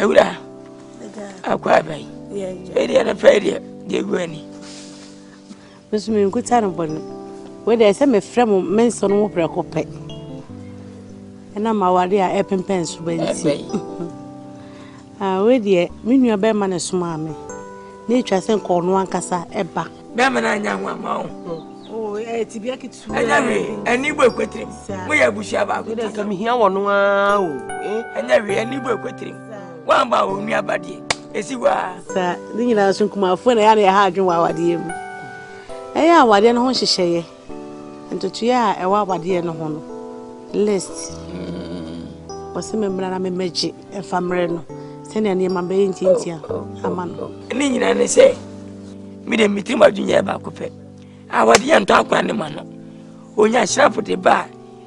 ewura akɔ aban ɛdeɛ no pɛ deɛ deɛ gu ani nso menkuta no bɔne wei deɛ sɛ mefrɛ mo mensɔ no mo prɛko pɛ ɛna ma awade a ɛpempɛn so bɛnti wei deɛ me nua bɛrima ne somaa me na ɛtwa sɛ nkɔɔ no ankasa ɛba bɛrima no anya ho ama wo ho ɛnyɛ hwee ani bɔ ɛkwatirim moyɛ abusua baako sɛ mehia wɔ no aa o ɛnyɛ hwee ani bɔ ɛkwatirim woamba a ɔnua abadeɛ ɛsi hɔ a ne nyinaa so nkumafoɔ na ɛyɛ na ɛha adwen wɔ awadeɛ mu ɛyɛ awadeɛ no ho nhyehyɛeɛ Ntotoeɛ a ɛwɔ awadeɛ no ho no list wɔse me mmra na me mmɛgye ɛfa mmerɛ no sɛnea nneɛma bɛyɛ ntiantia ama no. Ne nyinaa ne sɛ me de me tirim adwene yɛ baako pɛ awadeɛ ntɔ akora ne ma no onya hyerɛpo de ba a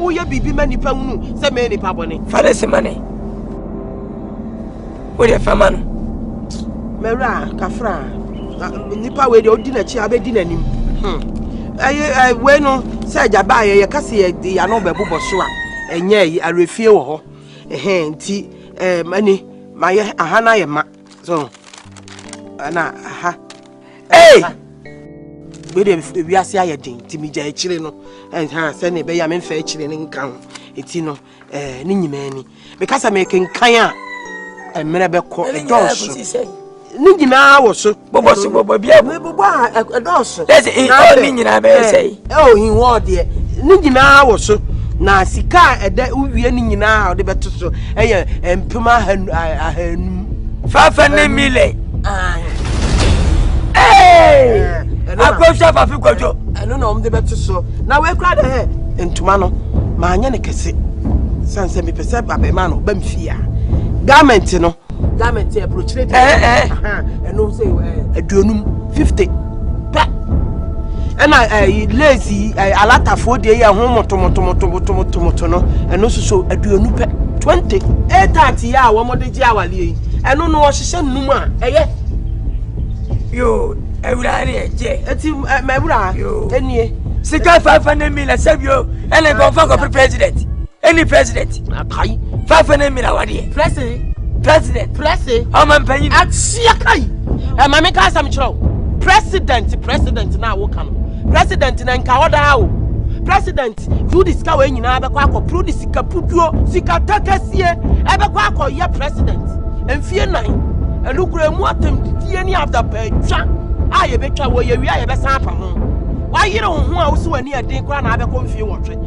woyɛ biribi ma nnipa hunu sɛ mɛyɛ nipa bɔne. fa ne se ma ne wodeɛ fa ma no mawura kafra nnipa wei deɛ wodi n'akyi a wobɛdi n'anim hmm. ɛyɛ wei no sɛ agya baayɛ yɛka sɛ yɛde yɛano bɛbobɔ so a ɛnyɛ awerɛfie wɔ hɔ nti ɛne mayɛ aha no ayɛ ma So, ɛna aha. Hey! Wei de wiase ayɛ den nti megya akyire no ɛnha sɛ ne ɛbɛyɛ a memfa akyire no nka ho ɛti no eh, ne nyinaa ni meka sɛ mekenkan a mmerɛ bɛkɔ ɛdɔɔso ne nyinaa wɔ so bobɔ so bobɔ bia bobɔ a ɛdɔɔso ne nyinaa bɛyɛ sɛ Ɛwɔ hin hɔ deɛ ne nyinaa wɔ so na sika a ɛdɛ wowie ne nyinaa a wɔde bɛto so ɛyɛ mpem ahanum. Fafa ne mile. Akɔhwɛ fafi kwadwo. Ɛno na wɔde bɛto so na wɔakura dɛ hɛ ntoma no maanyɛ ne kɛse sane sɛ mepɛ sɛ abɛma no ba mfie a garment no garment yɛ burokyire deɛ eh, eh, eh. ɛno sɛ aduonum fifty pɛ ɛna ɛyi lace yi ɛyi alatafoɔ deɛ yɛ ho motomotomotomotomoto no ɛno nso so aduonum pɛ twenty eight thirty yɛ a wɔn de gye awadeɛ yi ɛno no wɔhyehyɛ num a ɛyɛ. yoo ewura ni ɛjɛ. eti ɛ mɛ ewura. yoo enie. sika five hundred million sɛbi o ɛna nkɔfɔ nkɔfɔ president. ɛni president akai fafe ne mmira wadeɛ prɛse president prɛse ɔma mpanyin akyia kai ɛma me ka asɛm kyerɛ wo president president na woka no president na nka ɔdaa o president yudi sika wei nyinaa bɛkɔ akɔporo ne sika puduo sika takasie ɛbɛkɔ akɔyɛ president mfie nan ɛnukura mu atɛmdidie ne adapɛtwa a yɛbɛtwa wɔ yɛwie a yɛbɛsan apa ho wayere wo ho a wosi w'ani ɛden koraa na abɛkɔ mfie wɔtwe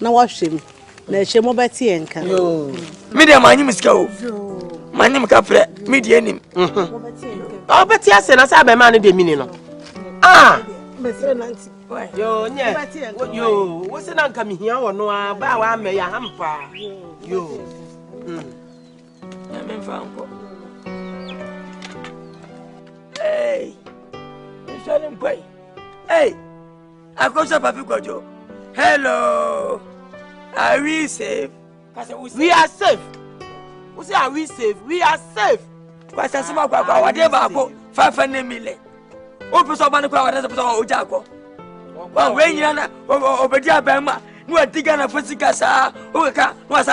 na wahwɛ mu na ɛhyɛ mu bɛte yɛn nka me deɛ manye me sika o manye me ka frɛ me deɛ nim ɔbɛte asɛ na sɛ abɛma no deɛ mini no ah bɛsrɛ nanti yo nyɛ yo wo se na nka mehia wɔ no a baa waamɛ yɛ aham paa yo hmm. nyame mfa nkɔ Hey, Hey! Akoso Papi Kojo, hello. Are we safe? We are safe. Who say are we safe? We are safe. Kwasa sima kwa kwa wade baako fafa ne mile. O pese ọba ne kwa wade pese ọ oja akọ. Wa we nyina na obedi aban ma. Ni wa diga na fo sika saa. O kaka wa sa